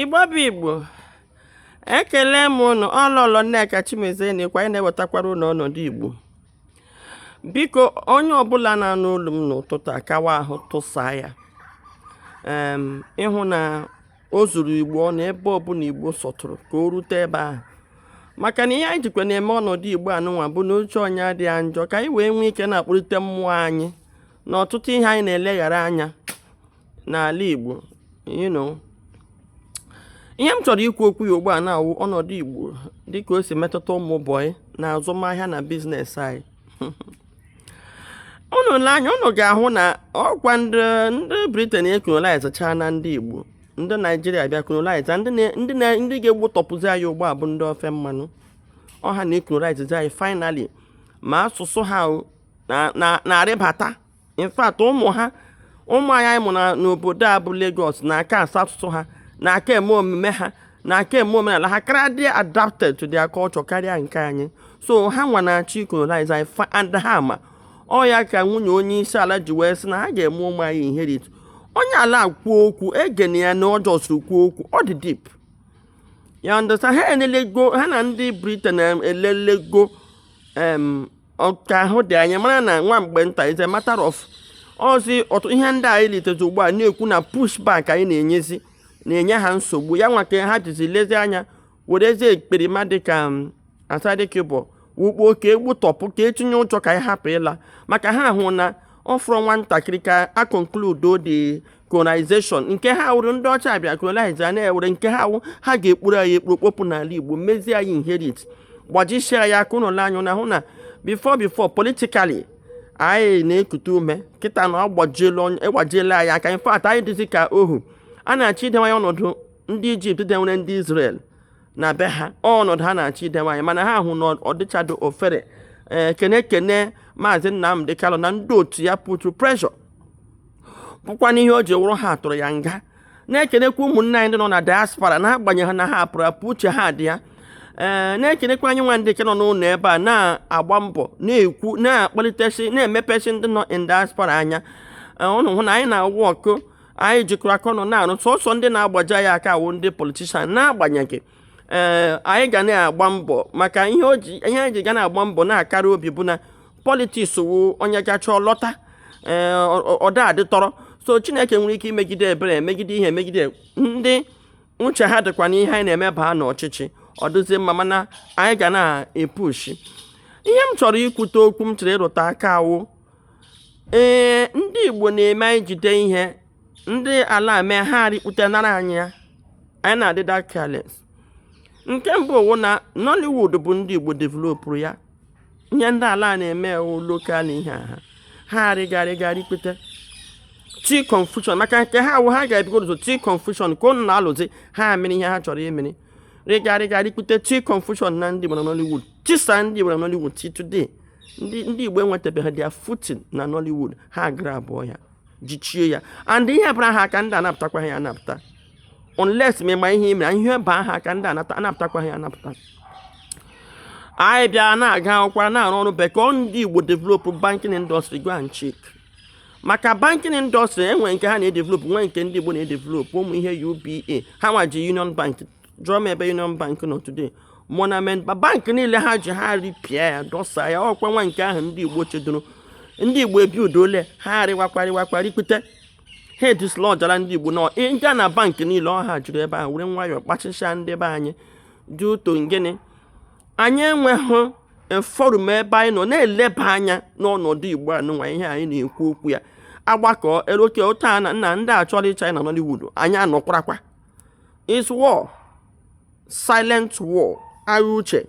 igbo bụ igbo ekele m ụnụ ọ lọlọ nneka chimezie na ịkwa anyị na-ewetakwara ụnụ ọnọdụ igbo biko onye ọbụla na-anụ olu m n'ụtụtụ a kawa ahụ tụsa ya ịhụ na o zuru igbo ọnụ ebe ọbụla igbo sọtụrụ ka o rute ebe ahụ maka na ihe anyị jikwa na-eme ọnọdụ igbo anụnwa bụ na uche onye adịghị ya njọ ka anyị wee nwee ike na-akpọlite mmụọ anyị na ọtụtụ ihe anyị na-eleghara anya n'ala Igbo you know ihe m chọrọ ikwu okwu ya ugbu a na-awụ ọnọdụ Igbo dịka o si metụta ụmụ bọyị na azụmahịa na business anyị unu lee anya unu ga-ahụ na ọkwa ndị ndị Britain ekolonaizachaana ndị igbo ndị naijiria bịa kolonaiza ndị ga-egbutọpụzi anyị ugbu a bụ ndị ofe mmanụ ọ ha na-ekolonaizazi anyị finally ma asụsụ ha na-arịbata in fact ụmụ ha ụmụ anyị anyị mụ na n'obodo a bụ Lagos na-aka asụ asụsụ ha na-aka eme omume ha na-aka eme omenala ha kara dị adapted to their culture karịa nke anyị so ha nwa na-achọ icolonize anyị fa and ha ma ọ ya ka nwunye onye isi ala ji wee sị na ha ga-eme ụmụ anyị inherit onye ala kwuo okwu egene ya na ọ just kwuo okwu ọ dị deep ya ndị awụsa ha enelego ha na ndị Britain elelego em ka ahụ dị anyị mara na nwa mgbe nta is a matter of ọ zi otu ihe ndị anyị litezi ugbu a na-ekwu na pushback anyị na-enyezi na-enye ha nsogbu ya nwa ka ha jizi lezi anya werezie ekperima dịka um, Asari Dokubo wukpo ka egbutọpụ ka etinye ụjọ ka anyị hapụ ịla maka ha hụ na ọ fọrọ nwatakịrị ka ha conclude the colonization nke ha wụrụ ndị ọcha abịa colonize a na-ewere nke ha wụ ha ga-ekpuru anyị ekpuru kpopụ n'ala igbo mezie anyị inherit gbajisia anyị aka ụlọ anyị na hụ na before before politically anyị na-ekute ume kịta na ọ gbajiela anyị aka in fact anyị dịzi ka ohu a na-achọ idewe anyị ọnọdụ ndị Egypt dewere ndị Israel na be ha ọnọdụ ha na-achọ idewe anyị mana ha hụ na ọ dịcharọ ofere ee eh, kene kene maazị nnamdị kanu na ndị otu ya put pressure bụkwa n'ihe o ji wụrụ ha tụrụ ya nga na-ekenekwa ụmụnne anyị ndị nọ na diaspora na-agbanyeghị na ha apụrụ apụ uche ha dị ya ee na-ekenekwa anyị nwa ndị nke nọ n'ụlọ ebe a na-agba mbọ na-ekwu na-akpalitesi na-emepesi ndị nọ in diaspora anya ụnụ hụ na anyị na-awụ ọgụ anyị jikọrọ aka ọnụ na-alụ sọsọ ndị na-agbaji anyị aka awụ ndị politician na-agbanyeghị ee anyị ga na-agba mbọ maka ihe anyị ji ga na-agba mbọ na-akara obi bụ na politiks wụ onye gachaa lọta ee ọ da adị tọrọ so chineke nwere ike imegide ebere emegide ihe emegide ndị uche ha dịkwa n'ihe anyị na-eme baa n'ọchịchị ọ dịzie mma mana anyị ga na-epushi ihe m chọrọ ikwute okwu m chọrọ ịrụtụ aka wụ ee ndị igbo na-eme anyị jide ihe ndị ala mee ha rikpute nara anyị ya anyị na-adịda careless nke mbụ wụ na nollywood bụ ndị igbo developụrụ ya ihe ndị ala a na-eme wụ lokal ihe a ha ha arịga rịga rịkpute tii confusion maka nke ha wụ ha ga-ebugodu ụzọ tii confusion ka ụnụ na-alụzi ha mere ihe ha chọrọ imere rịga rịga rịkpute tii confusion na ndị Igbo na Nollywood chụsa ndị Igbo na Nollywood till today ndị Igbo enwetabeghị their footing na Nollywood ha gara buo ya jichie ya and ihe bara ha aka ndị anapụtakwaghị ya anapụta unless ma ị ma ihe i mere ihe baa ha aka ndị anapụtakwaghị ya anapụta anyị bịa na-aga akwụkwọ na-arụ ọrụ bekee ndị Igbo develop banking industry go and check maka banking industry e nwee nke ha na-edevelop nwee nke ndị Igbo na-edevelop ụmụ ihe UBA ha nwechi Union Bank jụọ m ebe union bank nọ today Diamond Bank bank niile ha ji ha ripịa ya dọsa ya ọkwa nwa nke ahụ ndị igbo chedoro ndị igbo ebi udole ha arịwakwa rịwakwa rịkpute ha edislọjara ndị igbo na ị gaa na bank niile ọ ha jụrụ ebe a were nwayọọ kpachịcha ndị be anyị due to gịnị anyị enweghị forum ebe anyị nọ na-eleba anya n'ọnọdụ igbo anụnwa ihe anyị na-ekwu okwu ya agbakọ eroke ụta na nna ndị a chọrọ ịchụ anyị na Nollywood anyị anọkwarakwa is war silent war agha uche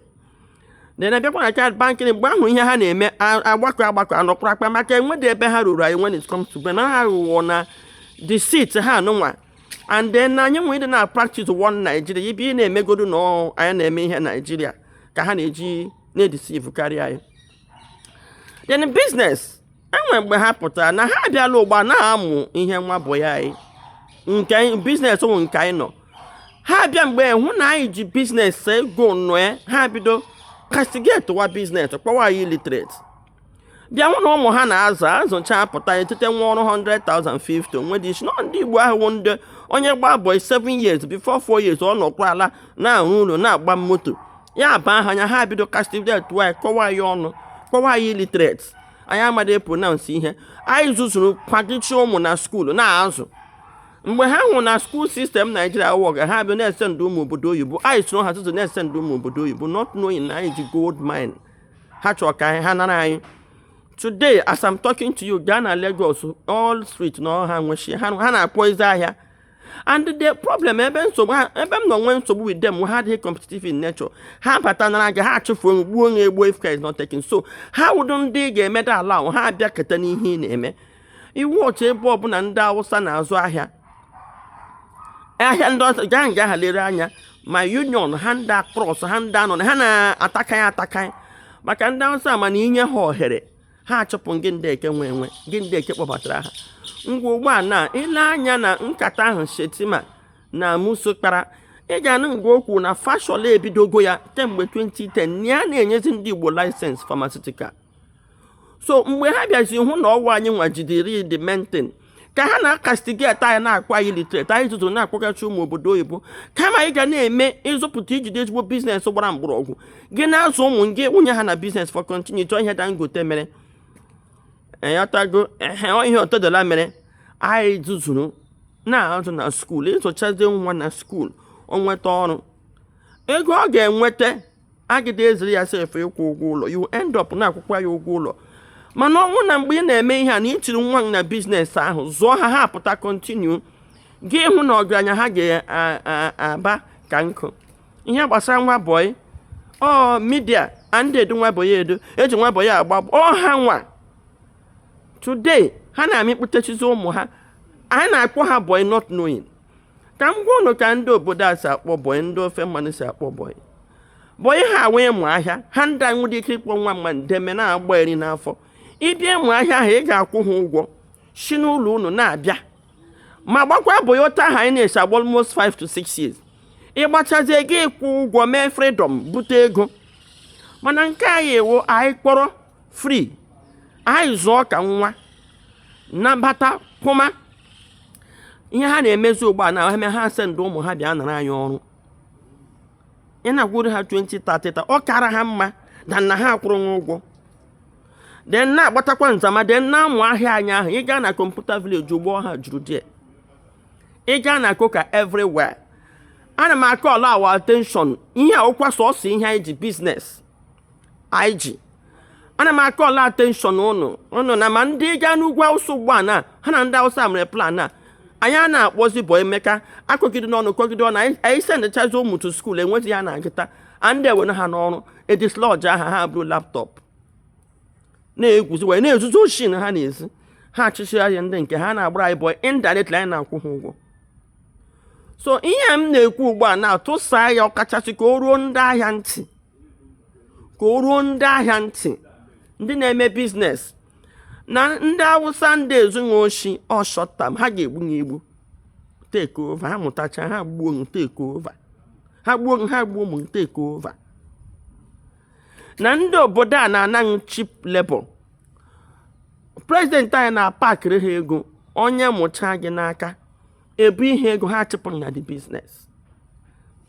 na-abịakwa na child banking mgbe ahụ ihe ha na-eme agbakọ agbakọ anọkwara akpa maka enwedị ebe ha ruru anyị when it comes to be na ha aghụghọ na deceit ha anụnwa and then na anyị nwere ịdị na practice one Nigeria ibe ị na-emegodu na anyị na-eme ihe Nigeria ka ha na-eji na-edisivukarị anyị then biznes e nwee mgbe ha pụtara na ha abịala ugbu a na-amụ ihe nwa bụ ya anyị nke biznes ụmụ nke anyị nọ ha abịa mgbe hụ na anyị ji biznes ego nọ ya ha bido kastigetiwa biznes kpọwa anyị illiterate bịa hụ na ụmụ ha na-azụ azụcha apụta etete nwa ọrụ 100,050 o nwedị isi na ndị Igbo ahụ ndị onye gba boy 7 years before 4 years ọ nọkwa ala na-arụ ụlọ na-agba moto ya aba ha anya ha bido kastigetiwa ya kọwa ya ọnụ kpọwa ya illiterate anyị amadị epronansị ihe anyị zụzuru kwadichi ụmụ na skuulu na-azụ mgbe ha hụ na skuul sistem naijiria wọga ha bịa na-esend ụmụ obodo oyibo anyị soro ha tụtụ na-esend ụmụ obodo oyibo not knowing na anyị ji gold mine ha chọrọ ka ha nara anyị today as I'm talking to you gaa na Lagos all street na ọ ha nwechi ha na-akpọ ezi ahịa and the problem ebe nsogbu ha ebe m nọ nwee nsogbu with them ha adịghị competitive in nature ha bata na nga ha achụfuo m gbuo onye egbuo if care is not taken so ha awụdụ ndị ga-emeda ala ahụ ha abịa keta n'ihe ị na-eme ị watch ebe ọbụla ndị awụsa na-azụ ahịa ahịa ndị ọzọ gaa nga ha lere anya ma union ha ndị akpọrọsụ ha ndị anọ na ha na-atakaghị atakaghị maka ndị awụsa mana i nye ha ohere ha achụpụ gị ndị nke nwe enwe gị ndị nke kpọbatara ha ngwa ugbu a na i lee anya na nkata ahụ shetima na muso kpara ị ga-anụ nga o kwu na fashola ebidogo ya kemgbe 2010 na ya na-enyezi ndị igbo license pharmaceutical so mgbe ha bịazi hụ na ọ wụ anyị nwa jidere the main thing ka ha na-acastigate anyị na-akpọ anyị illiterate anyị zuzuru na-akpọgachi ụmụ obodo oyibo kama anyị ga na-eme ị zụpụta i jide ezigbo business gbara mgbọrọgwụ gị na-azụ ụmụ gị wụnye ha na business for continuity ọ ihe dangote mere ị ghọtago ehe ọ ihe otedola mere anyị zuzuru na-azụ nwa school ị zụchazi nwa na school o nweta ọrụ ego ọ ga-enweta agadị ezuru ya sef ịkwụ ụgwọ ụlọ you end up na-akwụkwa ya ụgwọ ụlọ mana ọ wụ na mgbe ị na-eme ihe a na i tiri nwa gị na business ahụ zụọ ha ha apụta continue ị ga-ahụ na ọgaranya ha ga-aba ka nkụ ihe gbasara nwa bọyị ọ my dear anadị edu nwa bọyị edu e ji nwa bọyị agba ọ ha nwa today ha na-amịkpụtechizi ụmụ ha anyị na-akpọ ha bọyị not knowing ka m gwa ụnụ ka ndị obodo a si akpọ bọị ndị ofe mmanụ si akpọ bọị bọị ha wụ ịmụ ahịa ha ndị a nwere ike ịkpọ nwa mmadụ then na-agba nri n'afọ ị bịa ịmụ ahịa ahụ ị ga-akwụ ha ụgwọ si n'ụlọ ụnụ na-abịa ma gbakwa bọị otu ahụ anyị na-esi agba almost 5 to 6 years ị gbachazie gị akwụọ ụgwọ mee freedom bute ego mana nke anyị wụ anyị kpọrọ free anyị zụọ ka nwa nabata kwụma ihe ha na-emezi ugbu a na eme ha sendị ụmụ ha bịa nara anyị ọrụ ị na-akwụrụ ha 20 30 ọ kara ha mma than na ha kwụrụ nwa ụgwọ then na-agbatakwa nzama then na-amụ ahịa anyị ahụ ị gaa na computer village ugbu a ha juru die ị gaa na coker everywhere ana m acall our attention ihe a wụkwa sọsọ ihe anyị ji business anyị ji ana m acall attention ụnụ ụnụ na ma ndị nọ n'ugwu awụsa ugbu a na ha na ndị awụsa mere plan a anyị a na-akpọzi bụ emeka akọgide n'ọnụ kọgide ọnụ anyị sendịchazi ụmụ to school enwezi ya na-agụta anadị ewere ha n'ọrụ adislodge ha ha buru laptop na-egwuzi wayo na-ezuzi oshi ha na-ezi ha achịchị ahịa ndị nke ha na-agbara anyị bọị indirectly anyị na-akwụ ha ụgwọ so ihe m na-ekwu ugbu a na-atụsa ya ọkachasị ka o ruo ndị ahịa ntị ka o ruo ndị ahịa ntị ndị na-eme biznes na ndị awụsa ndị ezughị oshi short time ha ga-egbu ya egbu take over ha mụtacha ha gbuo m take over ha gbuo ha gbuo m take over na ndị obodo a na-anaghị cheap labour prezidenti anyị na-apakịrị ha ego onye mụcha gị n'aka ebu ihe ego ha chịpụrụ na the business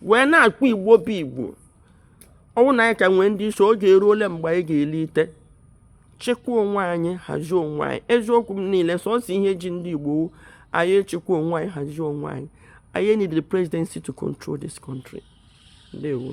wee na-akpọ igbo bụ igbo ọ wụ na anyị ka nwere ndị isi oge eruole mgbe anyị ga-ebilite chịkwa onwe anyị hazie onwe anyị eziokwu m niile sọsọ ihe ji ndị igbo anyị chịkwa onwe anyị hazie onwe anyị anyị need the presidency to control this country ndewo